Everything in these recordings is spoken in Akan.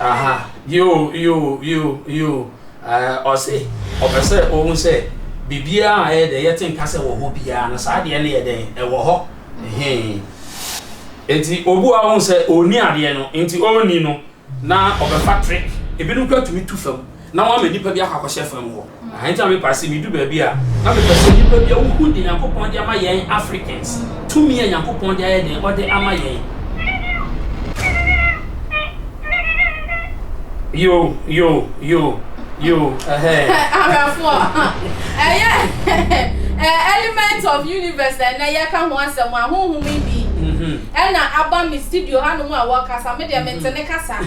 Aha, yoo, yoo, yoo, yoo, ɛɛ, ɔse ɔpɛ sɛ ohu sɛ biribiara a ɛyɛ dɛ yɛte nka sɛ wɔ hɔ biara no, saa adeɛ no yɛ dɛn? Ɛwɔ hɔ, hee. Enti obu a ohu sɛ ɔnni adeɛ no, enti ɔnni no, na ɔbɛfa trick. Ebinom koraa tumi tu fam. na wɔama nnipa bi akɔ akɔhyɛ fam hɔ. Aha nti na me paa se me du baabi a na me pɛ se nnipa bi a wo hu de Nyankopɔn de ama yɛn Africans tumi a Nyankopɔn de ayɛ den ɔde ama yɛn. Yo yo yo yo ɛhɛɛ. Awɛfoɔ ɛyɛ ɛɛ element of universe na ɛnɛ yɛka ho asɛm a honhom yi bi. Ɛna aba me studio ha nom a wɔkasa me deɛ me nte ne kasa.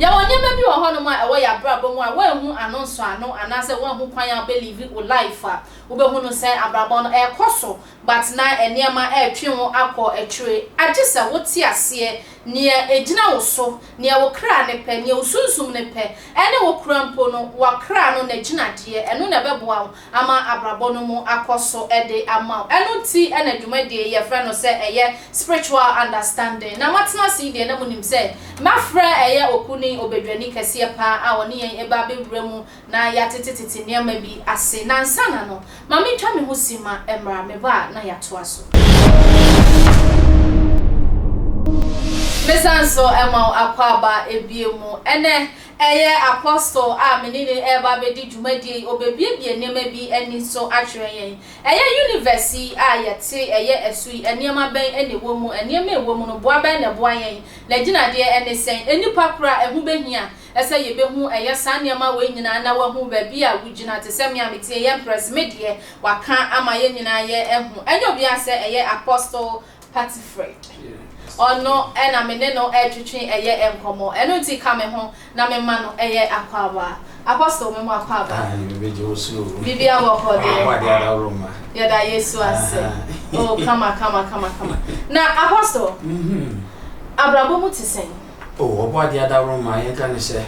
Yɛwɔ nneɛma bi wɔ hɔnom a ɛwɔ yɛn abrabɔ mu a woanhu ano nsɔano anaasɛ woanhu kwan a wobɛlive wo life a wobɛhunu sɛ abrabɔ no ɛrekɔ so But na nneɛma retwe wo akɔ akyire. Agye sɛ wote aseɛ nea ɛgyina wo so, nea wo kra no pɛ, nea wo sunsum no pɛ, ɛne wo kora mpo no, w'akra no n'agyinadeɛ. Ɛno na ɛbɛboa wo ama abrabɔ no mu akɔ so de ama wo. Ɛno nti na dwumadie yi yɛfrɛ no sɛ ɛyɛ Spiritual Understanding. Na moatena ase yi deɛ na monim sɛ mafrɛ ɛyɛ Oku ne Obadwani kɛseɛ paa a ɔne yɛn ɛba abɛwura mu na yɛatetetete nneɛma bi ase, na ansana no, ma mentwa me ho simma mmra, meba a na yɛatoa so. Mesan nso ma wo akwaaba bio mu. Ɛnnɛ, ɛyɛ Apostle a me ne no reba abɛdi dwumadie yi, ɔbɛbuebue nneɛma bi ani nso akyerɛ yɛn. Ɛyɛ universe yi a yɛte, ɛyɛ ɛso yi, nneɛma bɛn na ɛwɔ mu? Nneɛma a ɛwɔ mu no, boa bɛn na ɛboa yɛn? N'agyinadeɛ ne sɛn? Nnipa koro a ɛho bɛhia Ɛsɛ yɛbɛhu ɛyɛ saa nneɛma wei nyinaa na wahu baabi a wogyina te sɛ me a metie yɛn press me deɛ waka ama yɛn nyinaa yɛ ahu ɛnyɛ obiara sɛ ɛyɛ Apostle Patifred ɔno na me ne no ɛretwetwe ɛyɛ nkɔmmɔ ɛno nti ka me ho na me ma no ɛyɛ akwaaba Apostle me mo akwaaba bibi abɔ hɔ deɛ yɛda Yesu ase oh kama kama kama kama na Apostle mm-hmm. abrabɔ mu te sɛn O Ɔbɔadeɛ adaworoma, yɛnka no sɛ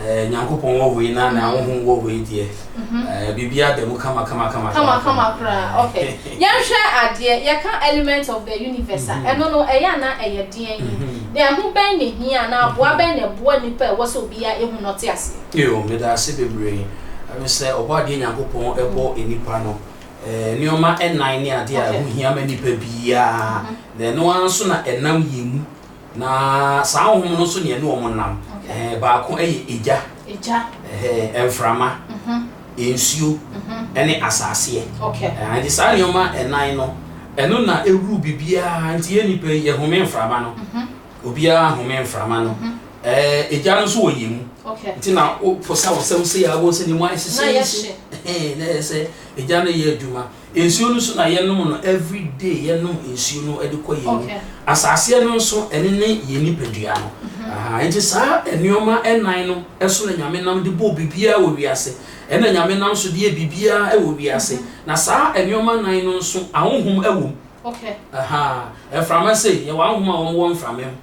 eh, Nyankopɔn wɔ wei na na honhom wɔ wei deɛ, mm-hmm. eh, biribiara da mu kama kama kama kama kama koraa. Okay, yɛnhwɛ adeɛ yɛka element of the universe a mm-hmm. ɛno no ɛyɛ ana ɛyɛ deɛn yi mm-hmm. na ɛho bɛn na hia na aboa bɛn na ɛboa nipa ɛwɔ sɛ obiara ehu na ɔte ase. yoo meda ase bebree ɛmi sɛ Ɔbɔadeɛ Nyankopɔn ɛbɔ nipa no. Eh, nneɛma nnan ne adeɛ a ɛho hia ma nipa biara na ɛno ara nso na ɛnam yɛn mu Na saa honhom no nso na ɛne wɔn nam. Okay. Eh, baako yɛ egya. Egya. Eh, mframa. Mhm. Nsuo. Mhm. Ɛne asaaseɛ. Okay. Eh, nti saa nneɛma ɛnan no, ɛno na ɛwuru biribiara. Nti yɛn nipa yi, yɛhome mframa no. Mhm. Obiara home mframa no. Mhm. Eh, egya no nso wɔ yɛn mu. Okay. Nti na woposa wo sɛm sei a, wobɛhu sɛ ne mu ayɛ sesɛɛse. Na yɛhye. Eh, na yɛ sɛ egya no yɛ adwuma. Nsuo no nso na yɛnom no every day yɛnom nsuo no de kɔ yɛn ani asaaseɛ no nso ɛne ne yɛn nipadua no ahaa nti saa nnoɔma ɛnan no ɛso na nyame nam de bɔɔ biribiara wɔ wiase ɛna nyame nam so deɛ biribiara ɛwɔ wiase na saa nnoɔma nan no nso ahonhom ɛwɔ mu ahaa mframa sei yɛwɔ ahonhom a wɔn wɔ mframa mu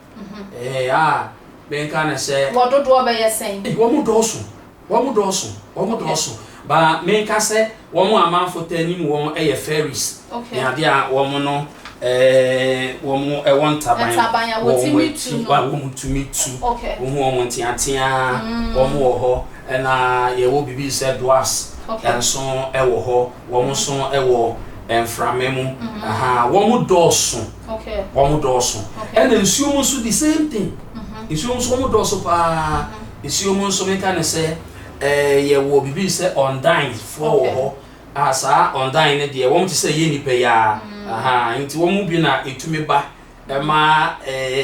ɛɛ a bɛnka ne sɛ wɔdodoɔ bɛyɛ sɛn wɔn dɔɔso. Wɔn dɔɔso, wɔn dɔɔso, but me nka sɛ wɔn a amanfo taa nim wɔn yɛ fairies ne ade a wɔn no eh wɔn wɔ ntaban, ntaban a wɔtumi tu no, a wɔn tumi tu, wohu wɔn nteateaa, mm. wɔn wɔ hɔ, ɛna yɛwɔ biribi sɛ doas, okay. nso wɔ hɔ, wɔn mm. nso wɔ mframa mu, mm. aha, wɔn dɔɔso, okay. wɔn dɔɔso, okay. ɛna nsuo mu nso the same thing, mm -hmm. nsuo mu nso wɔn dɔɔso paa. Mm -hmm. Nsuo mu nso meka no sɛ yɛ wɔ bibi sɛ ɔndan foɔ wɔ hɔ a saa ɔndan no deɛ wɔn te sɛ yɛ nipa yi ara ahan nti wɔn mu bi na etumi ba ɛma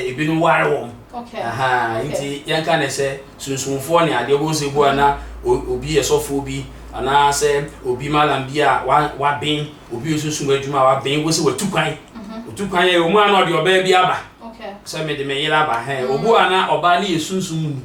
ebinom ware wɔn ahan nti yɛn ka no sɛ sunsunfoɔ ne adeɛ wɔn sɛ bu ana obi yɛ sɔfoɔ bi anaa sɛ obi malam bi a waben obi yɛ sunsun adwuma a waben wɔn sɛ watu kwan otu kwan yɛ wɔn ano ɔde ɔbaa bi aba. Okay. Sɛ me de me yere aba hɛn. Mm. Obu a na ɔbaa ne yɛ sunsum mu ni.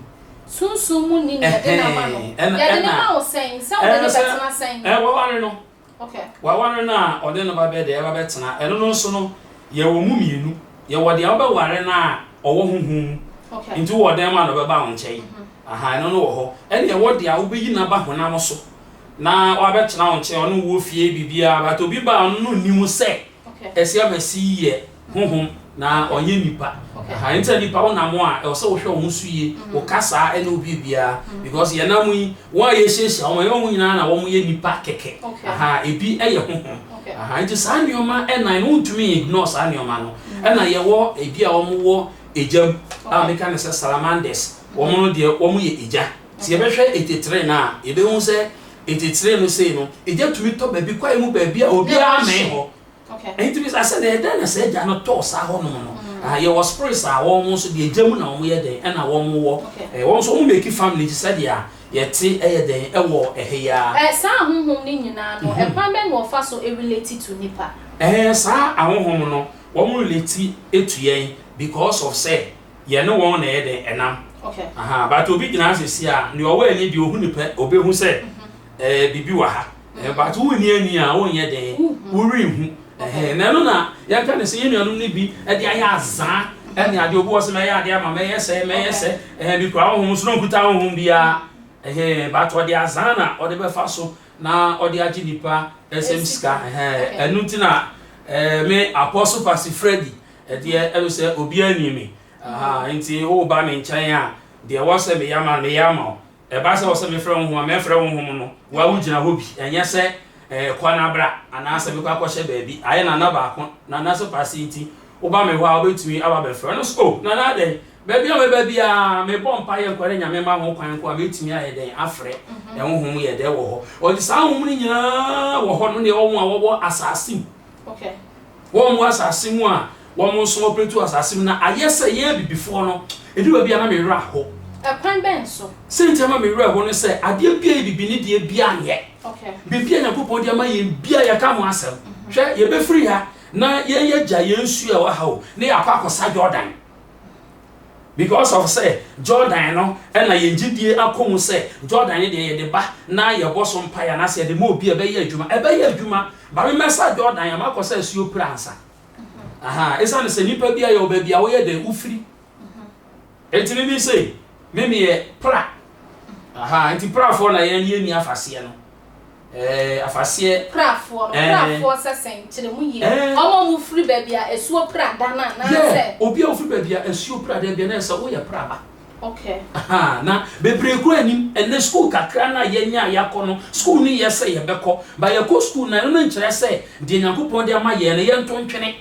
Sunsum mu ni na yɛde n'ama no. Yɛde ne ma wo sɛn? Sɛ ɔde ne bɛtena sɛn? Ɛɛ waware no. Okay. Waware no a ɔde no ba bɛ de ɛba bɛtena. Ɛno no nso no yɛwɔ mu mmienu. Yɛwɔ deɛ wobɛware no a ɔwɔ honhom mu. Okay. Nti wɔ dɛn mu a na ɔbɛba wo nkyɛn. Mm-hmm. Aha ɛno no wɔ hɔ. Ɛne ɛwɔ deɛ a wobɛyi no aba honam so na wabɛtena wo nkyɛn ɔne wo wɔ fie biribiara but obi ba a ɔno no nnim sɛ ɛsɛ ama si yɛ honhom na ɔnyɛ nipa aha nti nipa wo nam a ɛwɔ sɛ wohwɛ wɔn so yie mm. wo kasa ɛne obi biara mm. because yɛn nam yi wɔn a yɛhyiahyia wɔn ɛwɔ mu nyinaa na wɔn yɛ nipa kɛkɛ aha ebi ɛyɛ honhom aha nti saa nneɛma ɛnan no ntumi ignore saa nneɛma no mm. ɛna yɛwɔ ebi a wɔn wɔ egya mu a meka ne sɛ salamanders wɔn no deɛ wɔn yɛ egya. Sɛ yɛbɛhwɛ ntetee no a, yɛbɛhu sɛ ntetee no sei no, egya tumi tɔ baabi kwaeɛ mu baabi a obiara mmɛn hɔ. Ɛno nti bisa sɛ, na ɛdɛn na saa egya no tɔɔ saa hɔnom no? Ah, yɛwɔ spirits a wɔn nso deɛ egya mu na wɔn yɛ dɛn ɛna wɔn wɔ. Eh, wɔn nso wɔn make family te sɛ deɛ a yɛte ɛyɛ dɛn ɛwɔ ɛhɛ yi ara. Eh, saa ahohom no nyinaa no, ɛkwan bɛn na wɔfa so relate to nipa? Eh, saa ahohom no, wɔn relate to yɛn because of sɛ yɛne wɔn na ɛyɛ dɛn ɛnam aha but obi gyina ase si a nea ɔwɔ ani deɛ ohu ne pɛ obehu sɛ ɛɛ biribi wɔ ha ɛɛ but wo ni ani a wonyɛ dɛn wori hu ɛhɛn na ɛno na yɛnka ne sɛ yɛn nuanom no bi ɛde ayɛ azaa ɛne adeɛ obi wɔ sɛ mɛyɛ adeɛ ama mɛyɛ sɛ mɛyɛ sɛ ɛhɛn bi kura honhom so na nkuta honhom biara ɛhɛn but ɔde azaa na ɔde bɛfa so na ɔde agye nipa ɛsɛm sika ɛhɛn ɛno ti na ɛɛ me apostle pasi Freddy Ɛdeɛ ɛno sɛ obiara nim me, ahaa, nti woreba me nkyɛn a, deɛ ɛwɔ sɛ meyɛ ama no, meyɛ ama wo. Ɛba sɛ ɛwɔ sɛ mefrɛ honhom a, mɛfrɛ honhom no. Wo ara wogyina hɔ bi, ɛnyɛ sɛ ɛɛ kɔ na bra, anaasɛ mekɔ akɔhyɛ baabi. Ayɛ Nana baako, Nana sɛ Kwasi nti, woba me hɔ a, wobɛtumi aba abɛfrɛ no nso. Oh, Nana dɛn? Baabi a mɛba biara, mebɔ mpaeɛ nko ara, na Nyame ma ho kwan nko a, mɛtumi ayɛ dɛn? Afrɛ. Honhom yɛ dɛ wɔ hɔ. Ɔde saa honhom no nyinaa wɔ hɔ no, ne wɔn a wɔwɔ asase mu. Wɔn wɔ asase mu a wɔn nso wɔpretu asase mu na ayɛ sɛ yɛn abibifoɔ no, ɛduru baabi a na me werɛ aho. Ɛkwan bɛn so? Sɛnti ama me werɛ aho ne sɛ adeɛ biara yɛ bibi ne deɛ biara nyɛ. Biribi a Nyankopɔn de ama yɛn biara yɛka ho asɛm. Hwɛ, yɛbɛfiri ha na yɛn yɛagya yɛn nsuo a ɛwɔ ha o, na yɛakɔ akɔsa Jordan. Because of sɛ Jordan no na yɛn gyedie akɔ mu sɛ Jordan no deɛ yɛde ba na yɛbɔ so mpaeɛ anaasɛ yɛde ma obi a ɛbɛyɛ adwuma, ɛbɛyɛ adwuma. But me mɛsa Jordan a makɔ sɛ asuo pira ansa. Aha, ɛsiane sɛ nipa bi a yɛwɔ baabi a woyɛ dɛn wofiri. Enti me me sei, me meyɛ pra. Aha, enti prafoɔ na yɛn yɛnni afaseɛ no. Ɛɛ, afaseɛ. Pirafoɔ no, pirafoɔ sɛ sɛn? Kyerɛ mu yie. Wɔn a wɔfiri baabi a asuo pira da no anaasɛ? Yɛ, obi a ɔfiri baabi a asuo pira da bi anaasɛ woyɛ piraba. Okay. Ahaa, na bebree kura anim. Ɛnnɛ sukuu kakra no a yɛanya a yɛakɔ no, sukuu no yɛ sɛ yɛbɛkɔ, but yɛkɔ sukuu no a, ɛno no nkyerɛ sɛ deɛ Nyankopɔn de ama yɛn no, yɛnto ntwene.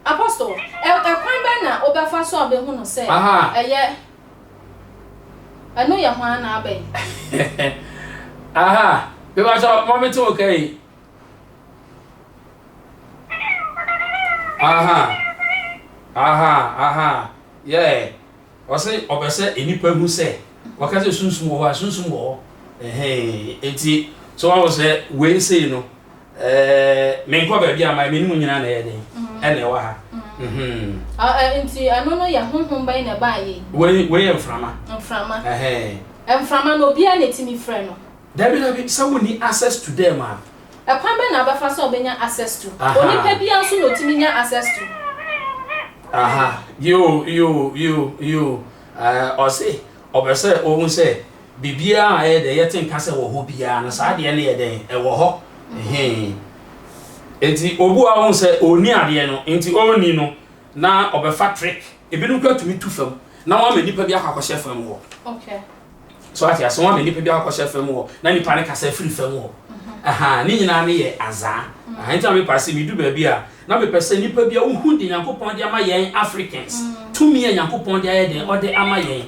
Apostle, ɛ, kwan bɛn na wobɛfa so abehu no sɛ ɛyɛ, ɛno yɛ hwan anaa bɛn? Aha, mebakyɛ ma mete wo ka yi. Aha, aha, aha, yeah. Ɔse ɔpɛ sɛ nnipa hu sɛ wɔka sɛ sunsum wɔ hɔ a sunsum wɔ hɔ ɛhɛn eti so wahu sɛ wei sei no ɛɛ menkɔ baabi a my menim nyinaa na ɛyɛ den ɛna ɛwɔ ha mhm. Ah eh, nti ɛno no yɛ honhom bɛn na ɛbaa yɛ yi? Wei wei yɛ mframa. Mframa. Ɛhɛn. Mframa no obiara na etimi frɛ no? Dabi dabi sɛ wonni access to them a Ɛkwan bɛn na ɔbɛfa so a ɔbɛnya access to? Onipa biara nso na ɔtumi nya access to. Aha, yoo, yoo, yoo, yoo, eh, ɔse ɔpɛ sɛ ɔhu sɛ biribiara a ɛyɛ dɛ yɛte nka sɛ wɔ hɔ biara no, saa adeɛ no yɛ dɛn, ɛwɔ hɔ, ɛhee. Enti obu a ɔhu sɛ ɔnni adeɛ no, nti ɔnni no, na ɔbɛfa trick, ebinom koraa tumi tu fam na wɔn ama nipa bi akɔ akɔhyɛ fam hɔ. Okay. So ate ase? Wɔn ama nipa bi akɔhyɛ fam hɔ, na nipa no kasa firi fam hɔ. Aha, ne nyinaa no yɛ azaa. Aha, nti na mepɛ ase medu baabi a, na mepɛ sɛ nipa bi a ohu de Nyankopɔn de ama yɛn Africans, tumi a Nyankopɔn de ayɛ den, ɔde ama yɛn.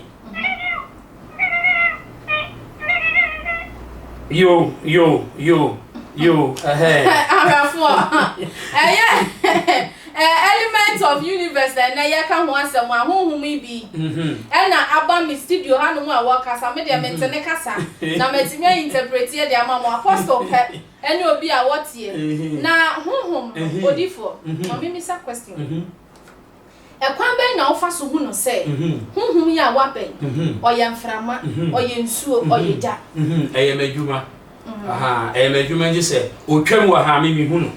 Yo, yo, yo, yo, ɛhɛɛ. Awɛfoɔ, ɛyɛ. Ɛyɛ Elements of Universe na ɛnnɛ yɛreka ho asɛm a, honhom yi bi na aba me studio hanom a wɔrekasa. Me deɛ mente ne kasa, na matumi ainterpreteɛ de ama mo. Apostle pɛ ne obi a ɔteɛ. Na honhom no, odiyifoɔ, ma memmisa question yi. Ɛkwan bɛn na wofa so hu no sɛ honhom yi a wabɛn, ɔyɛ mframa, ɔyɛ nsuo, ɔyɛ gya? Ɛyɛ m'adwuma. aha ɛyɛ m'adwuma gye sɛ ɔtwam wɔ ha me mehu no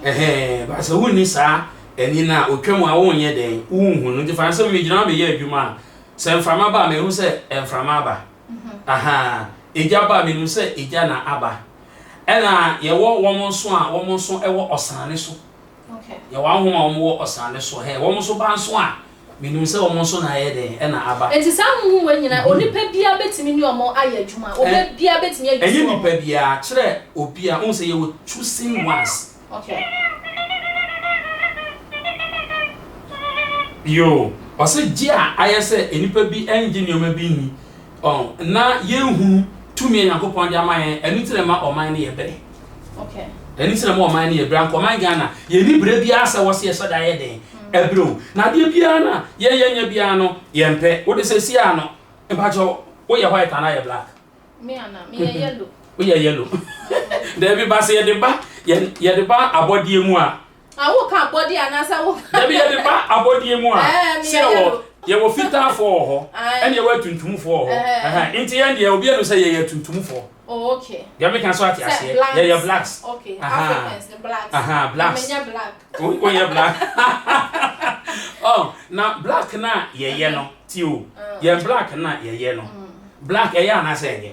ɛhɛ ba sɛ wonni saa ani no a ɔtwam a wonyɛ dɛn wonhu no nti fa sɛ megyina hɔ meyɛ adwuma a sɛ mframa ba a mehu sɛ mframa aba aha egya ba a menim sɛ egya na aba ɛna yɛwɔ wɔn nso a wɔn nso ɛwɔ ɔsane so Yɛ wɔn ahom a wɔn wɔ ɔsrane so hɛ, wɔn nso ba nso a, menim sɛ wɔn nso na ayɛ dɛn, ɛna aba. Enti saa ahonhom wei nyinaa, onipa biara bɛtumi ne wɔn ayɛ adwuma, obi biara bɛtumi ayi so wɔn. Ɛnyɛ nipa biara, kyerɛ obi a, wohu sɛ yɛwɔ chosen ones. Yoo, ɔse gye a ayɛ sɛ nnipa bi nnye nneɛma bi nni, Ɔn, na yɛnhunu tumi a Nyankopɔn de ama yɛn, ɛno nti na ɛma ɔman no yɛ bere. Ɛno nti na ɛma ɔman no yɛ bere. Anka ɔman Ghana, yɛnni bere biara sɛ wɔse yɛsɔ da yɛ dɛn? Ɛbere o. Na adeɛ biara no a yɛyɛ nyɛ biara no, yɛmpɛ. Wo de seesei ara no, mpakyɛw, woyɛ white anaa yɛ black? Me anaa? Meyɛ yellow. Woyɛ yellow. Dabi, ba sɛ yɛde ba, yɛde ba abɔdeɛ mu a, Ah, wo ka abɔdeɛ anaasɛ wo ka. Dabi yɛde ba abɔdeɛ mu a. Ɛɛ mi yɛ yɛlo. Yɛ wɔ fitaa fɔ wɔ hɔ. Ɛna yɛ wɔ atuntum fɔ wɔ hɔ. Ɛhɛn nti yɛn deɛ obi ɛnu sɛ yɛ yɛ atuntum fɔ. Oh okay. Deɛ mi ka so ate aseɛ. Yɛ yɛ blacks. Okay Africans no blacks. Ahaa blacks. Na mi nyɛ black. Wo wo nyɛ black. Oh na black na yɛ yɛ no ti o. Yɛn black na yɛ yɛ no. Black ɛyɛ anaasɛ ɛnyɛ.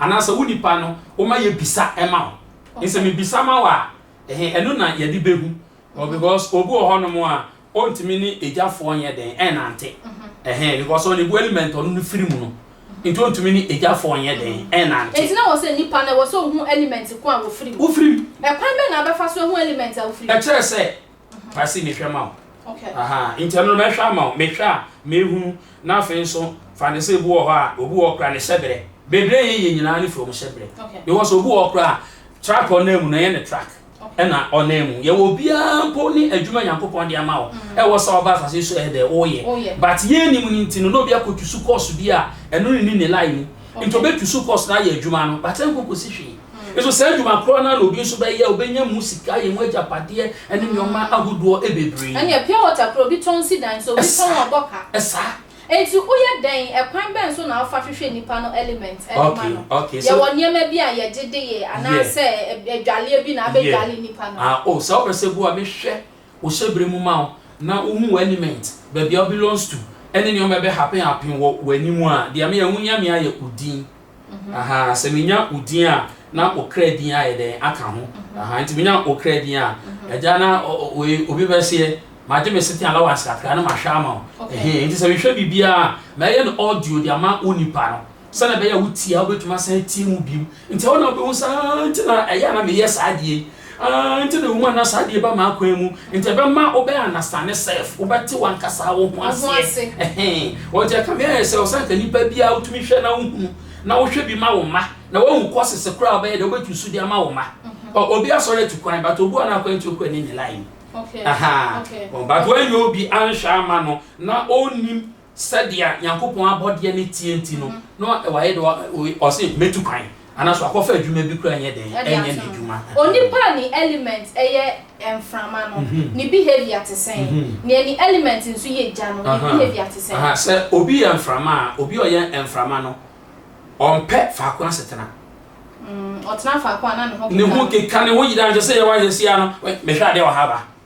Anaasɛ wo nipa no woma yɛ bisa ma wo nsɛ me bisa ma wo a ɛhe ɛno na yɛde bɛhu ɔ because obi wɔ hɔ nom a ɔntumi ne agyafoɔ nyɛ dɛn ɛnante ɛhe because ɔne bu element ɔno no firi mu no nti ɔntumi ne agyafoɔ nyɛ dɛn ɛnante. Nti na wɔ sɛ nipa no ɛwɔ sɛ ɔhu element ko a wɔfiri mu? Wofiri mu. Ɛkwan bɛn na abɛfa so ahu element a wofiri mu? Ɛkyerɛ sɛ fa si mehwɛ ma wo aha nti ɛno mɛhwɛ ama wo mehwɛ a mehunu na afei nso fa ne sɛ ebi wɔ hɔ a obi wɔ kora ne hyɛbrɛ bebree yɛ yɛ nyinaa ne fam hyɛbrɛ because obi wɔ kora a track ɔnam mu na ɛyɛ ne track ɛna ɔnam mu yɛwɔ obiara mpo ne adwuma nyankopɔn de ama wo ɛwɔ sɛ ɔba asase so ɛdɛ woyɛ but yɛn nim no nti no na obi akɔtu so course bi a ɛno ne ne ne line mu nti obɛtu so course na ayɛ adwuma no but ɛnkɔ kɔsi hwee Nso saa adwuma korɔ no ara na obi nso bɛyɛ, ɔbɛnya mu sika, ayɛ mu agyapadeɛ, ɛne nneɛma ahodoɔ bebree. Ɛnneɛ pure water korɔ obi tɔn si dan so, obi tɔn ɔbɔ ka. Ɛsaa. Nti woyɛ dɛn, ɛkwan bɛn so na wofa hwehwɛ nnipa no element de ma no? Yɛwɔ nneɛma bi a yɛgye de yɛ anaasɛ adwaleɛ bi na abɛdwale nnipa no? Ah oh, saa wopɛ sɛ bu a mehwɛ wo hyɛberɛ mu ma wo na wohu wo element, baabi a wo belongs to, ɛne nneɛma a ɛbɛ happen happen wɔ w'anim a, deɛ me a ɛho hia me ara yɛ wo din. Ahaa, sɛ menya odin a, na okra din ayɛ dɛn aka ho. Ahaa, nti menya okra din a, agya na oye, obi bɛseɛ, magye me sete allowance kakra na mahwɛ ama wo. Ɛhee, nti sɛ mehwɛ biribiara a, mɛyɛ no audio de ama wo nipa no. Sɛdeɛ ɛbɛyɛ a wotie a, wobɛtumi asan atie mu bio. Nti ɛhɔ na wobɛhu sɛ, haa, nti na ɛyɛ a na meyɛ saa adeɛ yi. Aah nti na woma na saa deɛ ba m'akwan mu nti ɛbɛma wo bɛ understand self, wo bɛ te wankasaa wo ho aseɛ ɛhee ɔnti ɛka me ayɛ sɛ ɔsɛ anka nipa biaa wo tumi hwɛ na wo hunu na wo hwɛ bi ma wo mma na wahu courses koraa wo bɛyɛ deɛ wo bɛ tu so de ama wo mma ɔ obi asɔre atu kwan but obu ana akwan nti okɔ ani ne line mu ahaa but wanyɛ obi anhwɛ ama no na ɔnnim Sɛdeɛ Nyankopɔn abɔdeɛ no teɛ nti no, na wayɛ dɛ ɔse mɛtu kwan anaso akɔfa adwuma bi koraa nyɛ dɛn ɛnyɛ n'adwuma. Onipa a ne element yɛ mframa no, ne behavior te sɛn? Neɛ ne element nso yɛ gya no, ne behavior te sɛn? Aha, sɛ obi yɛ mframa a, obi a ɔyɛ mframa no, ɔmpɛ faako asetena. Ɔtena faako a na ne ho keka no. Ne ho keka, ne ho yera, nso sɛ yɛwɔ ahwɛsie a no, mehwɛ adeɛ wɔ ha ba,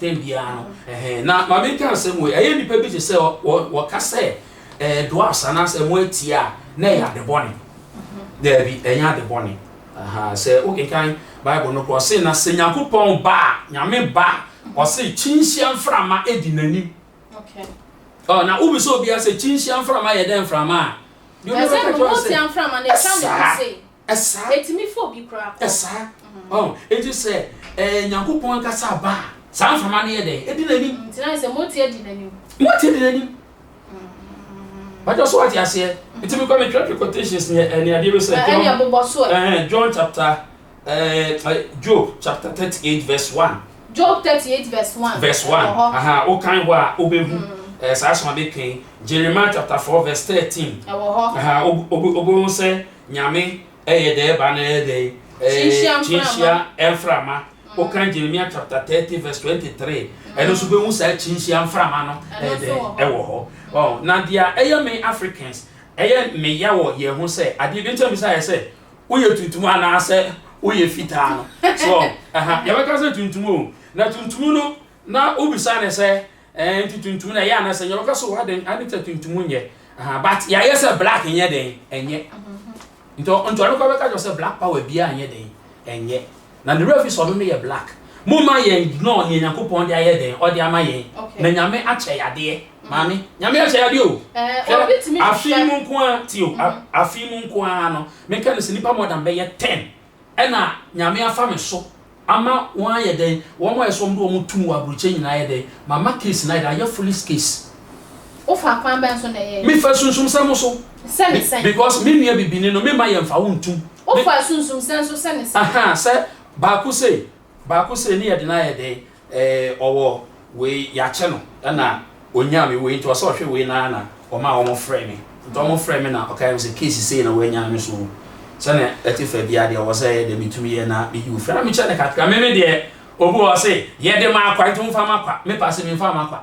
Dɛn biara no, ɛhɛ. Na ma menka nsɛm wei, ɛyɛ nnipa bi te sɛ wɔka sɛ ɛyɛ doas anaasɛ ɛmo atie a, na ɛyɛ ade bɔne. Daabi, ɛnyɛ ade bɔne. Aha, sɛ wokenkan Bible no kɔ, ɔse, na sɛ Nyankopɔn ba a, Nyame ba, ɔse, kyinhyia mframa di n'anim. Ɔ, na wobisa obiara sɛ kyinhyia mframa yɛ dɛn mframa a? Deɛ obiara bɛka kyerɛ wo sɛ, ɛsaa. Ɛsaa. Ɛtumi fa obi koraa kɔ. Ɛsaa. Ɔn, eti sɛ ɛɛ Nyankopɔn ankasa aba a, saa mframa no yɛ dɛn? Edi n'anim. Nti na ayɛ sɛ moteɛ di n'anim. Moteɛ di n'anim. Bàtà so wate aseɛ. Nti mi kɔ mi twerɛ quotations ni ɛni adeɛ bi sɛ. Ɛni ɛbobɔ so ɛ. John chapter ɛɛ Job chapter thirty eight verse one. Job thirty eight verse one. Verse one. Aha, o kan hɔ a, o bɛ hu. Eh, saa asoma bɛ kan Jeremiah chapter four verse thirteen. Ɛwɔ hɔ. Aha, o o o bɛ hu sɛ Nyame yɛ dɛɛ ba no yɛ dɛn? Kyinhyia mframa. Wokan Jeremia chapter thirty verse twenty three ɛno nso bɛhu saa kyinhyia mframa no yɛ dɛn ɛwɔ hɔ. Oh, na deɛ ɛyɛ me Africans ɛyɛ me ya wɔ yɛn ho sɛ adeɛ bi nkyɛn bisa yɛ sɛ woyɛ tuntum anaasɛ woyɛ fitaa no so ɛha yɛbɛka sɛ tuntum o na tuntum no na wobisa ne sɛ Ɛɛ nti tuntum na ɛyɛ anasɛ nyɛ ɔka so wɔ adɛn ade sɛ tuntum nyɛ aha but yɛayɛ sɛ black nyɛ dɛn ɛnyɛ nti nti ɔno kɔ bɛka kyerɛ sɛ black power biara nyɛ dɛn ɛnyɛ na ne werɛ fi sɛ ɔno no yɛ black mo ma yɛn ignore nea nyankopɔn de ayɛ dɛn ɔde ama yɛn na nyame akyɛ yadeɛ maame nyame akyɛ yadeɛ o hwɛ afe mu nko a ti o afe mu nko a no meka no sɛ nipa more than bɛyɛ ten Ɛna Nyame afa me so ama wɔn ayɛ dɛn, wɔn a ɛsɛ wɔn de wɔn tum wɔ aburokyɛ nyinaa ayɛ dɛn, mama case no ayɛ dɛn, ayɛ foolish case. Wo fa kwan bɛn so na ɛyɛɛ? Me fa sunsumsɛm so. Sɛ ne sɛn? Because me nua bibini no me mma yɛn nfa wo ntum. Wo fa sunsumsɛm so sɛ ne sɛn? Ahaa, sɛ baako sei, baako sei ne yɛde no ayɛ dɛn. Ee ɔwɔ wei yɛakyɛ no na ɔnyaa me wei nti ɔsɛ ɔhwɛ wei no ara na ɔmaa wɔfrɛɛ me nti wɔfrɛɛ me na ɔkaeɛ me sɛ case sei na wɔanyaa me so sɛnea ɛte fa biara deɛ ɔwɔ sɛ ɛyɛ deɛ metumi yɛ na meyi wo firi na mekyɛ no kakra me me deɛ obi wɔ hɔ se yɛde ma akwa nti womfa ma kwa me paa se memfaa ma kwa.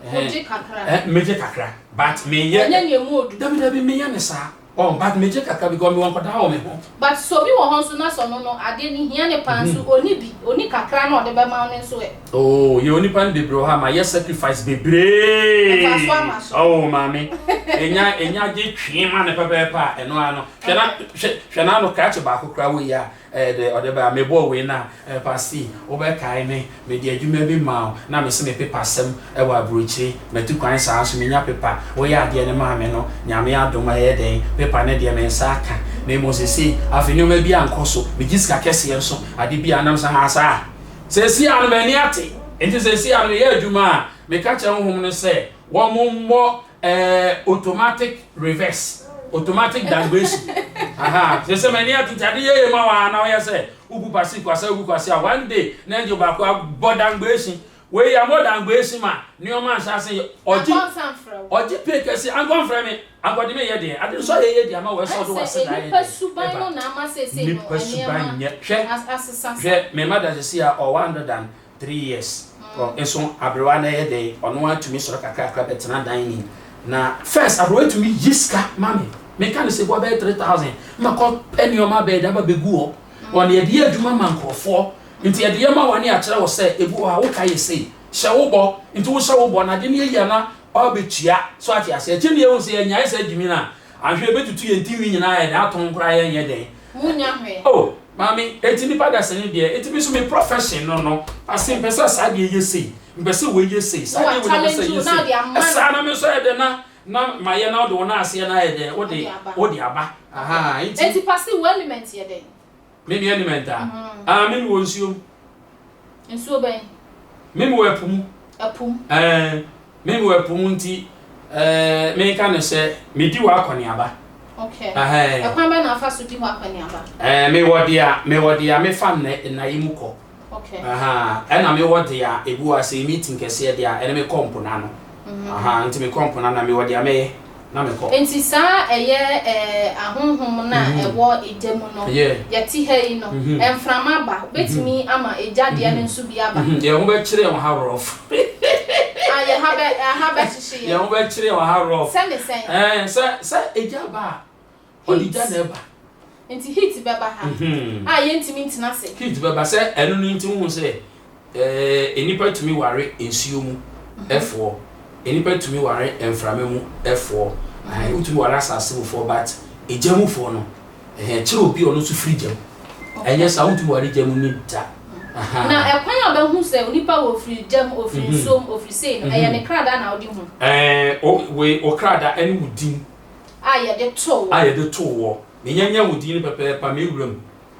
Ogye kakra. Eh, megye kakra. But me yɛ. Ɛnyɛ nea emu odu. Dabi dabi me yɛ ne saa. Oh, but megye kakra because me wɔ nkɔdaa wɔ me ho. But sɛ obi wɔ hɔ nso na sɛ ɔno no adeɛ no hia ne paa nso ɔni bi, ɔni kakra na ɔde bɛma wo no nso ɛ? Oh, yɛwɔ nipa no bebree wɔ hɔ a ma yɛ sacrifice bebree. Ɛfa so ama so. Oh, maame. Enya enya gye twee ma ne pɛpɛɛpɛ a ɛno ano. Hwɛ na hwɛ hwɛ na ano krakye baako kra wɔ yi a. Ɛyɛ dɛ ɔde bae a mebɔɔ wei no a, Pastor, wobɛkae me, mede adwuma bi maa wo, na mese me pepa sɛm wɔ aburokyire, matu kwan saa nso menya pepa, woyɛ adeɛ no maa me no, Nyame adom a ɛyɛ dɛn, pepa no deɛ me nsa aka, na mmom seesei, afei nneɛma bi ankɔ so, megye sika kɛseɛ nso, ade bi a na mese haa saa, seesei ara no m'ani ate, enti seesei ara no meyɛ adwuma a, meka kyerɛ honhom no sɛ wɔmmɔ. Ɛɛ automatic reverse automatic dangration ahaa sese mani atuti ade yeye ma wa na ɔyɛ sɛ ugu kwasi kwasa ugu kwasi a one day na ejo baako abɔ dangration wei ya mo dangration ma nneɛma nhyɛ ase yɛ ɔgye ɔgye pay kɛse ankɔ mfrɛ me ankɔde me yɛ deɛ ade nso ayɛ yɛ deɛ ama wɔ ɛsɛ ɔde wɔ ase da ayɛ deɛ nipa suban nyɛ hwɛ hwɛ mɛma da sisi a ɔwɔ andadan three years nso aberewa no yɛ dɛn ɔno ara tumi sɔre kakrakra bɛtena dan ni na first aberewa tumi yi sika ma me meka no sɛ bua bɛyɛ three thousand mɛkɔ pɛ nneɛma bɛyɛ de aba bɛgu hɔ wɔn yɛde yɛ adwuma ma nkurɔfoɔ nti yɛde yɛ ma wɔn ne akyerɛ wɔ sɛ ebi wɔ hɔ a woka yɛ sei hyɛ wo bɔ nti wohyɛ wo bɔ na ade no yɛ yie na ɔbɛtua so ate aseɛ gye ne ehu sɛ yɛnyae sɛ gyimi no a Anhwɛ ebetutu yɛn tinwi nyinaa ayɛ den atɔn koraa yɛnyɛ dɛn. Munnya hwee. Oh Maame enti nnipa dasani deɛ enti me nso me profession no no ase mpɛ sɛ saa deɛ yɛ sei mpɛ sɛ wei yɛ sei saa deɛ wei na mpɛ sɛ yɛ sei saa na me nso ayɛ dɛn na na mayɛ na wode wo nan aseɛ no ayɛ dɛn wode wode aba ahaa enti. Enti Pase wo element yɛ dɛn. Me mea nim ɛntaa. Aah me me wɔ nsuo mu. Nsuo bɛn? Me me wɔ ɛpo mu. Ɛpo mu. Ɛɛn me me wɔ ɛpo mu nti ɛɛn me ka no sɛ me di hɔ akɔneaba. Okay. Ɛhɛɛn. Ɛkwan bɛn na afa so di hɔ akɔneaba? Ɛɛn me wɔ deɛ a me wɔ deɛ a me fa nnɛ nna yi mu kɔ. Okay. Aha, ɛna me wɔ dea ebi wɔ ase meeting kɛseɛ dea ɛne me kɔ mpo na no. Mm-hmm. Aha, nti me kɔ mpo na na me wɔ dea me yɛ na me kɔ. Nti saa ɛyɛ eh, ahonhom na mm-hmm. ɛwɔ egya mu no. Yeah. Yɛ ti ha yi no, mm-hmm. ɛnframa ba, betumi mm-hmm. ama egya deɛ no nso bi aba. Mm-hmm. Yɛn ho bɛ kyerɛ wɔn ha rough. Ah, yɛ ha bɛ, ha bɛ hyehye yɛ. Yɛn ho bɛ kyerɛ wɔn ha rough. Sɛ ne sɛn. Ɛɛ, eh, sɛ, sɛ egya ba a. Ɔde gya na ɛba. Nti heat bɛba ha a yɛntumi ntena ase. Heat bɛba sɛ ɛno no nti wohu sɛ eh, nnipa tumi ware nsuo mu ɛfoɔ, mhm. nnipa tumi ware mframa mu ɛfoɔ, mhm. wotumi ware asase mufoɔ but egya mufoɔ no eh, kyerɛ obi ɔno nso firi gya mu ɛnyɛ saa wotumi ware gya mu ne da na ɛkwan a ɔbɛhu sɛ onipa wɔ ofiri gyam ofiri mhm. nsuom ofiri sei no ɛyɛ ne kradaa na ɔde hu. ɛɛ eh, o wei o kradaa ɛne o din. a yɛde too wɔ. A yɛde too wɔ. Menya nya wo din no pɛpɛɛpa me wura mu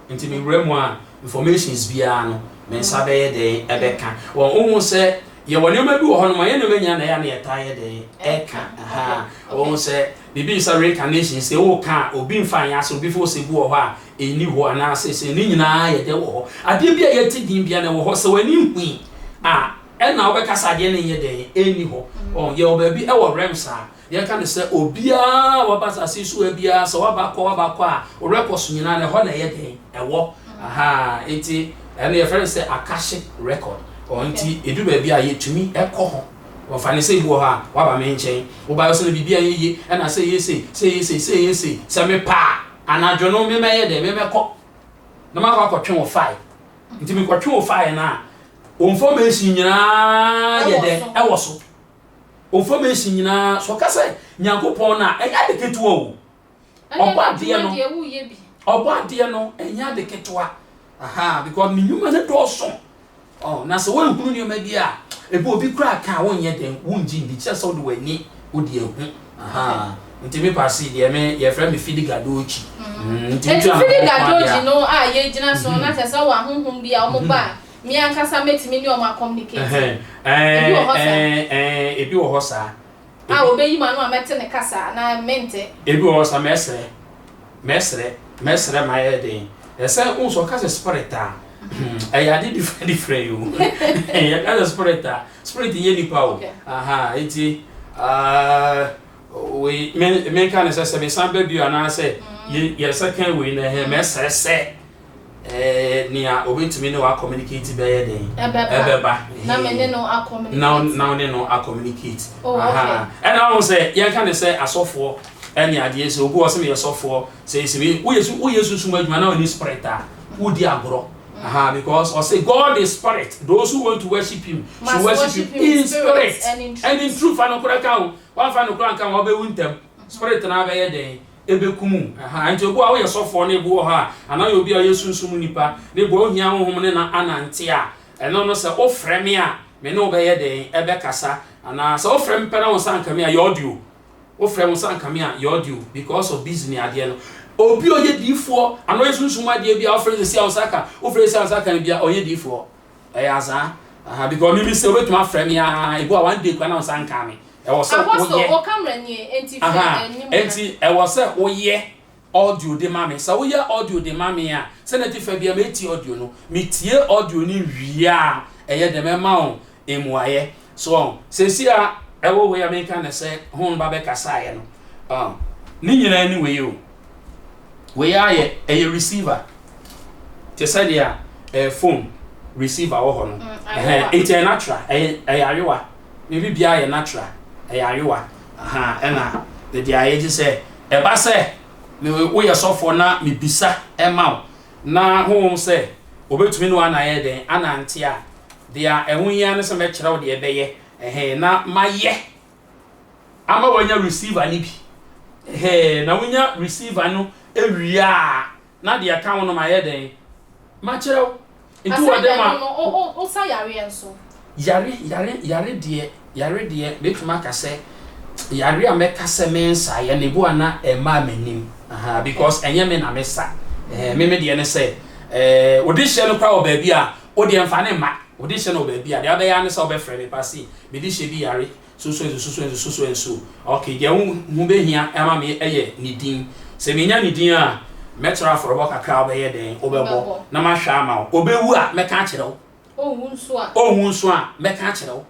nti me wura mu a informations biara no me nsa bɛyɛ dɛn ɛbɛka wɔn wohu sɛ yɛwɔ nneɛma bi wɔ hɔ nom a yɛnnom anya na ɛyɛ a na yɛtaa yɛ dɛn ɛka aha wohu sɛ biribi nsa reincarnation sɛ wo ka a obi nfa nyɛ asɛ obi fo sɛ bi wɔ hɔ a ɛni hɔ anaasɛ sɛ ne nyinaa yɛde wɔ hɔ adeɛ bi a yɛte din bia na ɛwɔ hɔ sɛ w'ani hui a ɛna wobɛka sɛ adeɛ no nyɛ dɛn ɛni hɔ wɔn yɛwɔ baabi ɛwɔ realms a Yɛka no sɛ, obiara a waba asase yi so ha biara, sɛ waba kɔ, waba kɔ a, wo werɛ kɔ so nyinaa no, ɛhɔ na ɛyɛ dɛn? Ɛwɔ. Ahaa, nti ɛno yɛfrɛ no sɛ Akashic Record. Ɔɔ, nti ɛdu baabi a, yɛtumi kɔ hɔ. Ɔɔ, fa no sɛ bi wɔ hɔ a, woaba me nkyɛn, wobaeɛ wo sɛ na biribi anyɛ yie, ɛna sɛ ɛyɛ sei, sɛ ɛyɛ sei, sɛ ɛyɛ sei. Sɛ mepɛ a, anadwo no me mɛyɛ dɛn? Me mɛkɔ na makɔ akɔtwe wo file. Nti mekɔtwe wo file no a, wo information nyinaa yɛ dɛn? Ɛwɔ so. Confirmation nyinaa so ɔka sɛ Nyankopɔn no a, ɛnyɛ ade ketewa o. Ɔbɔ adeɛ no, ɔbɔ adeɛ no, ɛnyɛ ade ketewa. Aha, because ne nnwuma no dɔɔso. Oh, na sɛ woanhunu nneɛma bi a, ebi obi koraa ka a wonyɛ dɛn, wongye ndi, kyerɛ sɛ wode w'ani wode ahu. Aha, nti me paase deɛ me yɛfrɛ me Fidi Gadochi. Mm, nti nti Fidi Gadochi no a yɛgyina so, na kyerɛ sɛ wɔ ahohom bi a wɔn ba a, Me ankasa mɛtumi ne wɔn akɔmunikate? Ebi wɔ hɔ saa? Ɛɛ, ɛɛ, ɛɛ, ebi wɔ hɔ saa. A Ebi, wɔbɛyi m'ano a mɛte ne kasa anaa mente? ebi wɔ hɔ saa, mɛsrɛ, mɛsrɛ, mɛsrɛ ma ayɛ den. Ɛsɛ, wohu sɛ wɔka sɛ spirit a, hmm, ɛyɛ ade different different o. Yɛka sɛ spirit a, spirit nyɛ nipa o. Okay. Aha, nti, ah, wei, me, menka no sɛ sɛ mesan ba bio anaasɛ yɛ, yɛsɛ kan wei no, ɛhɛn, mɛsrɛ sɛ. nea obetumi ne wo akɔmunikate bɛyɛ dɛn? Ɛbɛba. Na me ne no akɔmunikate. Na wo ne no akɔmunikate. Oh, okay. Ɛna wɔn sɛ yɛka ne sɛ asɔfoɔ ɛne adeɛ sɛ obi wɔ sɛ meyɛ sɔfoɔ sɛ esimi woyɛ su woyɛ sunsun adwuma na wɔne spirit a wodi agorɔ. Aha, because ɔsɛ God is spirit. Those who want to worship him should worship him in spirit and in truth. Fa no kora ka o. Wɔn fa no kora nka wɔn bɛwu ntɛm. Spirit na abɛyɛ dɛn? ɛbɛkum wo. Ɛha nti obi wɔ ha woyɛ sɔfoɔ na ebi wɔ hɔ a anaa woyɛ obi a woyɛ sunsum mu nipa na ebi wɔ hɔ wohia honhom no na anante a, ɛno no sɛ wofrɛ me a me ne wo bɛyɛ dɛn? Ɛbɛkasa. Anaa sɛ wofrɛ me pɛ na wo nsa nka me a, yɛ audio. Wofrɛ wo nsa nka me a, yɛ audio because of busy ne adeɛ no. Obi a ɔyɛ diifoɔ anaa ɔyɛ sunsum mu adeɛ bi a wofrɛ no seesei a wo nsa aka, wofrɛ seesei a wo nsa aka no bi a ɔnyɛ diifoɔ. Ɛyɛ asaa. Aha, because me me se obetumi afrɛ me aa, ebu a one day kura na nsa nkaa me. Ɛwɔ sɛ woyɛ. Apostle, o camera nie, enti frɛ Aha, anim ha. enti ɛwɔ sɛ woyɛ audio de ma me. Sɛ woyɛ audio de ma me a, sɛ na tifa bia metie audio no, me tie audio no wie a, ɛyɛ dɛ mɛma wo mmuaeɛ. So wɔn, sɛsi a ɛwɔ wei a meka ne sɛ ho no ba bɛkasaeɛ no, ɔn, ne nyinaa ne wei o. Wei ara yɛ ɛyɛ receiver te sɛ deɛ ɛɛ eh, phone receiver wɔ hɔ no mm, nti ɛyɛ natural ɛyɛ ɛyɛ ayewa ne bi biara yɛ natural ɛyɛ ayewa ɛna ne deɛ ayɛ gye sɛ ɛba sɛ ne woyɛ sɔfoɔ na mebisa ɛma wo na honhom sɛ obetumi ne wɔn anayɛ dɛn anante a deɛ ɛho hia ne sɛ mɛkyerɛ wo deɛ ɛbɛyɛ ɛhɛn na mayɛ ama wanya receiver no bi hɛɛ na wonya receiver no ewie a na deɛ ɛka ho no ma yɛ dɛn ma kyerɛ wo nti wɔ dɛ ma wo sa yareɛ nso yare yare yare deɛ yare deɛ bɛtumi aka sɛ yare a mɛka sɛ me nsa yɛ ne bo a na ɛma m'anim aha because ɛnyɛ me na me sa ɛɛ me me deɛ ne sɛ ɛɛ wode hyɛ no kora wɔ baabi a Wo deɛ mfa ne mma. Wo de hyɛ no wɔ baabi a, deɛ wobɛyɛ ara ne sɛ wobɛfrɛ me ba sei, me de hyɛ bi yare sosoɛnsu sosoɛnsu sosoɛnsu. Okay, deɛ wo ho bɛhia ama me yɛ ne din. Sɛ menya ne din a, mɛkyerɛ wo afɔrebɔ kakra a wobɛyɛ dɛn? Wobɛbɔ na mahwɛ ama wo. Ɔbɛwu a, mɛka akyerɛ wo. Ɔnwu nso a? Ɔnwu nso a, mɛka akyerɛ wo.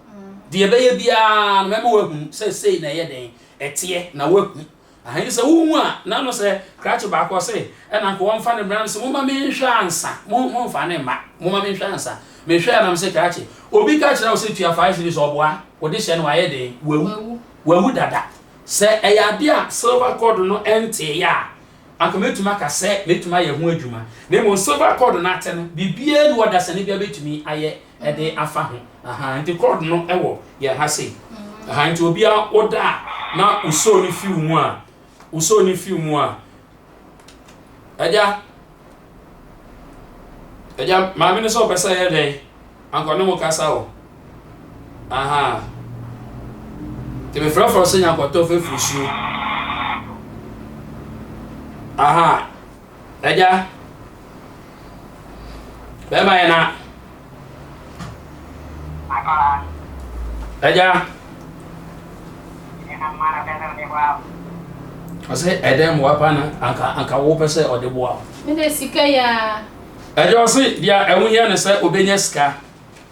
Deɛ ɛbɛyɛ biara no, mɛma woahunu sɛ sei na ɛyɛ dɛn? Ɛteɛ, na woahu. Ahe, sɛ wohu a, na no sɛ krakye baako ɔse, ɛna nka wɔmfa no mmra no se momma menhwɛ ansa, mo, momfa no mma, momma menhwɛ ansa. Mehwɛɛ a na mese krakye, obi ka kyerɛ wo sɛ tua five cedis ɔboa, wo de hyɛ no ayɛ den, wawu, wawu dada. Sɛ ɛyɛ adeɛ a silver cord no nteeɛ a, anka mɛtumi aka sɛ mɛtumi ayɛ ho adwuma. Na mmom silver cord no ate no, biribiara nni hɔ dasani bi a bɛtumi ayɛ de afa ho aha nti cord no wɔ yɛn ha sei aha nti obia woda a na wosoo no fiw mu a wosoo no fiw mu a agya agya maame no sɛ ɔpɛ sɛ yɛ dɛn ankɔ ne mo kasa o aha nti mefrɛfrɛ sɛ nyankɔtɔ fɛfiri suo aha Agya, bɛrima yɛ na. Agya. Ɔsɛ ɛdɛn mu wapa na anka anka wo pɛ sɛ ɔde boa wo. Mede sika yɛ a. Agya ɔse deɛ ɛho hia ne sɛ ɔbɛnya sika.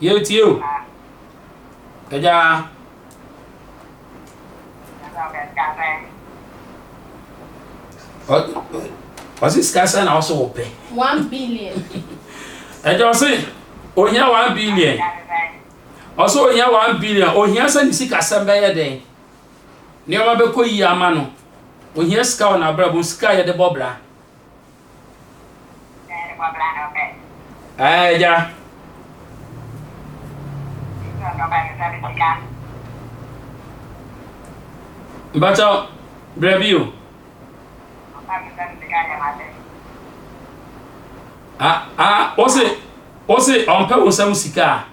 Yɛretie o. Agya. Ɔse sika sɛ na ɔso wopɛ. One billion. Agya ɔse ohia one billion. Ɔse ohia one billion. Ohia sɛ ne sika sɛm bɛyɛ dɛn. Nneɛma bɛkɔ yie ama no. Ohia sika wɔ n'abrabɔ sika a yɛde bɔ bra. Ɛɛ agya. Mpakyɛ brɛ bi o. Ah ah ose ose ɔmpɛ wo nsam sika a.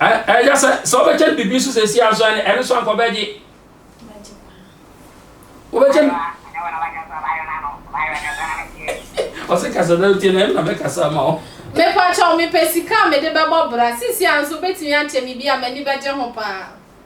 ɛyɛ sɛ sɛ wobɛkyɛ no biribi nso sɛ ɛsi aso ɛne ɛno nso anka ɔbɛgye wobɛkyɛ no ɔse kasa na wotie no ɛm na mɛkasa ma wo mepakyɛw mepɛ sika a mede bɛbɔ bra sisi a nso wobɛtumi akyɛ me bi a m'ani bɛgye ho paa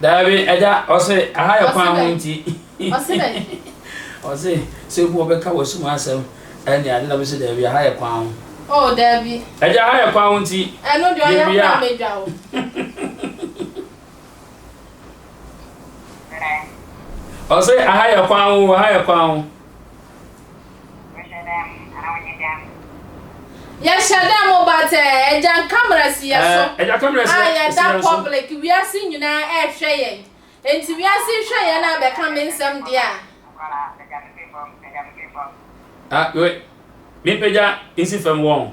Daabi agya ɔse aha yɛ kwan ho nti ɔse sɛ ebi ɔbɛka wɔ sum asɛm ɛne ade na mese daabi aha yɛ kwan ho oh daabi agya aha yɛ kwan ho nti ɛno deɛ ɔyɛ kwan mɛdwa wo ɔse aha yɛ kwan ho aha yɛ kwan ho Yɛhyɛ dɛ mo but eh, Agya Nkamara si yɛ so a yɛda public, wiase nyinaa ɛɛhwɛ yɛn, enti wiase hwɛ yɛn a bɛka me nsɛm deɛ a. Ah wei me pagya nsi fam wɔn.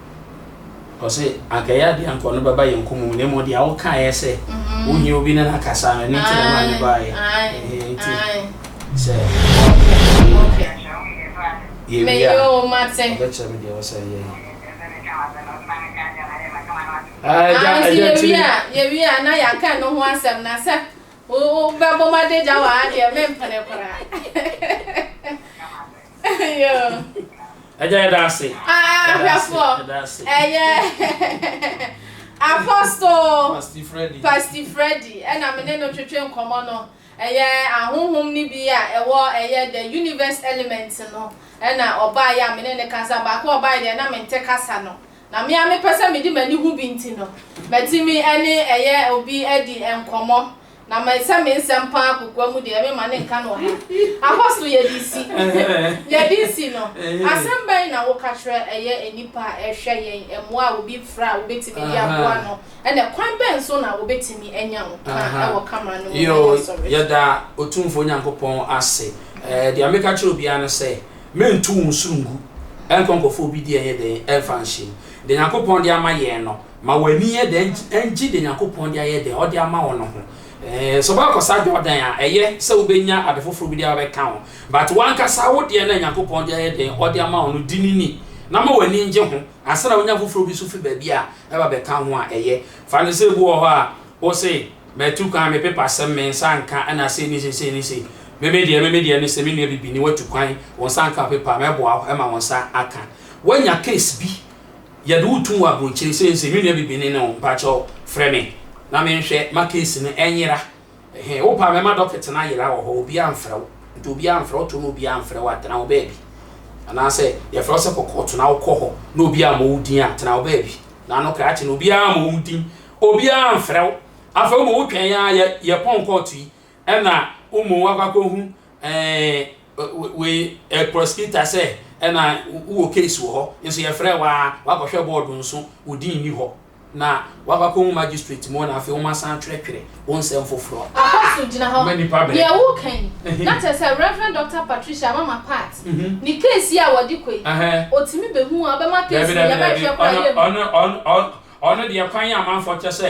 Ɔse anka ɛyɛ adeɛ anka ɔno bɛba yɛn kɔmɔ mu na mmom deɛ wokaeɛ sɛ wohia obi ne no akasa no ɛno nti na ɛmaa ne baeɛ ɛhɛn nti sɛ yɛwie a ɔbɛkyerɛ me deɛ ɔsɛ yɛ yɛwie a na yɛaka no ho asɛm na sɛ wobɛbɔ m'adagya wɔ ha deɛ mempene koraa Agya yɛda ase. Ahwɛfoɔ ɛyɛ apostol Pasti Freddy ɛna me ne no twetwe nkɔmɔ no ɛyɛ ahohom no bi a ɛwɔ ɛyɛ the universe element no ɛna ɔbaa yɛ a me ne ne kasa baako ɔbaa yɛ deɛ na me nte kasa no na me a mepɛ sɛ mede m'ani ho bi nti no matumi ɛne ɛyɛ obi ɛdi nkɔmɔ na ma ɛsɛ me nsɛm paa kokoa mu deɛ mema ne nka no ɔha. Ahɔ so yɛde si. Yɛde si no, asɛm bɛn na woka kyerɛ ɛyɛ nnipa a ɛhwɛ yɛn? Mmoa a obi fra a wobɛtumi de aboa no, ɛnna kwan bɛn so na wɔbɛtumi anya nkwa wɔ kamera no mu ɛwɔ asɔre so? Yɛda Otumfoɔ Nyankopɔn ase. Deɛ meka kyerɛ obiara ne sɛ, Mento wo nso ngu, ɛnkɔ nkɔfa obi deɛ nyɛ dɛn, ɛmfa nhyɛ mu. Deɛ Nyankopɔn de ama yɛn no, Ma w'ani nyɛ dɛ ngye dza Nyankopɔn dze ayɛ dɛ ɔdze ama wo no ho. Sɛ ɔbɛkɔsa Jordan a, ɛyɛ sɛ wobenya adze fofor bi de abɛkã ho, but wankasa wo deɛ no a Nyankopɔn dze ayɛ dɛ ɔdze ama wo no, di no ni na ma w'ani ngye ho ansa na wonya fofor bi so fi baabi a ɛba bɛkã ho a, ɛyɛ. Fa no sɛ bi wɔ hɔ a, wo se, Matu kwan, me pepa sɛm, me nsa anka, ɛna sei ne sei, sei ne sei. Me me deɛ, me me deɛ ne sɛ, me nua bibini, watu kwan, wo nsa anka, wo pepa a, mɛboa wo ma wo nsa aka. Woanya case bi? Yɛde wo tum wɔ abronkyire sɛ nse me nua bibini ne wo mpakyɛw frɛ me na me nhwɛ ma case no ɛnyera ɛhɛɛ wo paa mɛma docket no ayera wɔ hɔ obiaa mfrɛ wo nti obiaa mfrɛ wo to no obiaa mfrɛ wo a tena wo baabi anaasɛ yɛfrɛ wo sɛ kɔ kɔɔto na wokɔ hɔ na obiaa mmɔ wo din a tena wo baabi na ano krakye no obiaa mmɔ wo din obiaa mfrɛ wo afei wo ma wo twɛn aa yɛ yɛpɔn kɔɔto yi Ɛna womo wakɔ akɔhu ɛɛ wei ɛ prosecutor sɛ ɛna wowɔ case wɔ hɔ nso yɛfrɛ wo a wakɔhwɛ board nso wo din nni hɔ na wakɔ akɔhu magistrate mo na afei wɔn asan atwerɛtwerɛ wo nsɛm foforɔ a Apostle gyina hɔ. Deɛ woreka yi, na kyerɛ sɛ Rev. Doctor Patricia Amama Paat ne case yi a wɔde kɔ yi, ɔtumi bɛhu a ɔbɛma case no yɛbɛhwɛ koraa yɛnhu. Ɔno deɛ kwan yɛ amanfoɔ kyɛ sɛ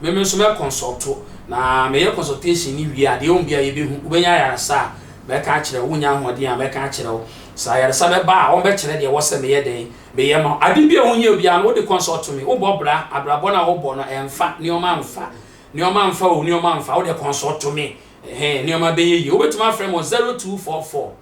Me me nso mɛ kɔnsɔlto na me yɛ kɔnsɔltehyin no wie a deɛ wɔn bia yɛ bɛ hu wo bɛnya ayaresa a mɛ ka akyerɛ wo wo nya ahoɔden a mɛ ka akyerɛ wo sɛ ayaresa bɛ ba a wɔn bɛ kyerɛ deɛ wɔ sɛ me yɛ dɛn me yɛ ma wo ade bia wo hia bia no wo de kɔnsɔlto me wo bɔ bra abrabɔ no a wo bɔ no ɛnfa nnoɔma nfa nnoɔma nfa o nnoɔma nfa wo deɛ kɔnsɔlto me ɛhɛɛ nnoɔma bɛ yɛ yie wo bɛ tumi afrɛ me wɔ zero two four four.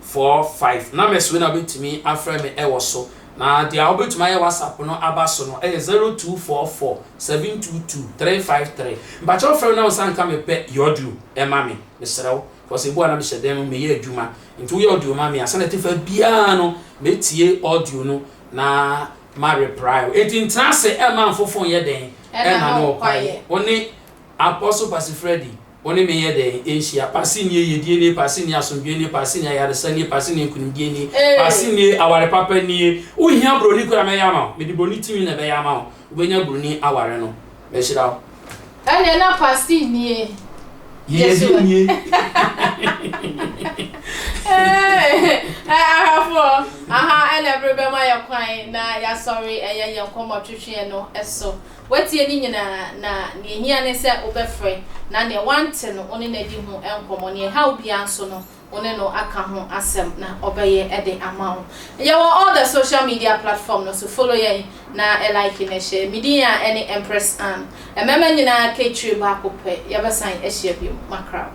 four five numbers wei na wobɛtumi afrɛ me ɛwɔ so na deɛ wobɛtumi ayɛ whatsapp no aba so no ɛyɛ zero two four four seven two two three five three mpakyɛw frɛ me na wo nsa nka me pɛ yɛ audio ɛma me mesrɛ wo because ebu a na mehyɛ dan mu meyɛ adwuma nti woyɛ audio ma me a sɛnɛ tefa biara no mɛtie audio no na ma reply wo enti ntena ase ɛma mfofo nyɛ dɛn ɛna no ɔkwaeɛ wo ne Apostle Pasi Freddy, wo ne me nyɛ dɛn nhyia, Pasi nie yiedie nie, Pasi nie asomdwoe nie, Pasi nie ayaresa nie, Pasi nie nkunimdie nie, Pasi nie aware papa nie, wo hia broni koraa mɛyɛ ama wo, mede broni timi na ɛbɛyɛ ama wo, wo bɛnya broni aware no, mɛhyira wo. Ɛneɛ na Pasi nie yɛ so ɛ. Eeii ahwɛfoɔ, aha ɛna ɛbere bɛma yɛ kwan na yasɔre ɛyɛ yɛn nkɔmmɔ twetweɛ no so. Woatie ne nyinaa, na nea ehia ne sɛ wobɛfrɛ, na nea woante no, wo ne no adi ho nkɔmmɔ. Nea ɛhaw biara nso no, wo ne no aka ho asɛm, na ɔbɛyɛ de ama wo. Yɛwɔ all the social media platform no so. Follow yɛn, na like na share. Me din a ɛne Empress Anne. Mmarima nyinaa ka etire baako pɛ. Yɛbɛsan ahyia bio. Macra.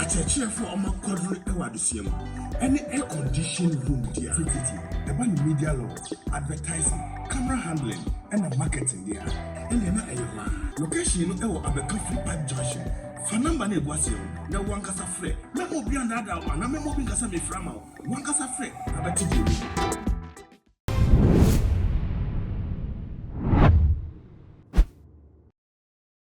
Akyerɛkyerɛfo a wɔma kwadwom wɔ adesua mu ne air conditioned room dea tututu ɛba no media launch, advertising, camera handling na marketing dea ɛnneɛ na ɛyɛ hɔ ara. Location no wɔ Abɛka Free Park Junction. Fa number no a ɛgu aseɛ no na wo ankasa frɛ. Mɛma obiara nnaadaa wo anaa mɛma obi nka sɛ mefrɛ ama wo. Wo ankasa frɛ na bɛte deɛ ɛwɔ mu.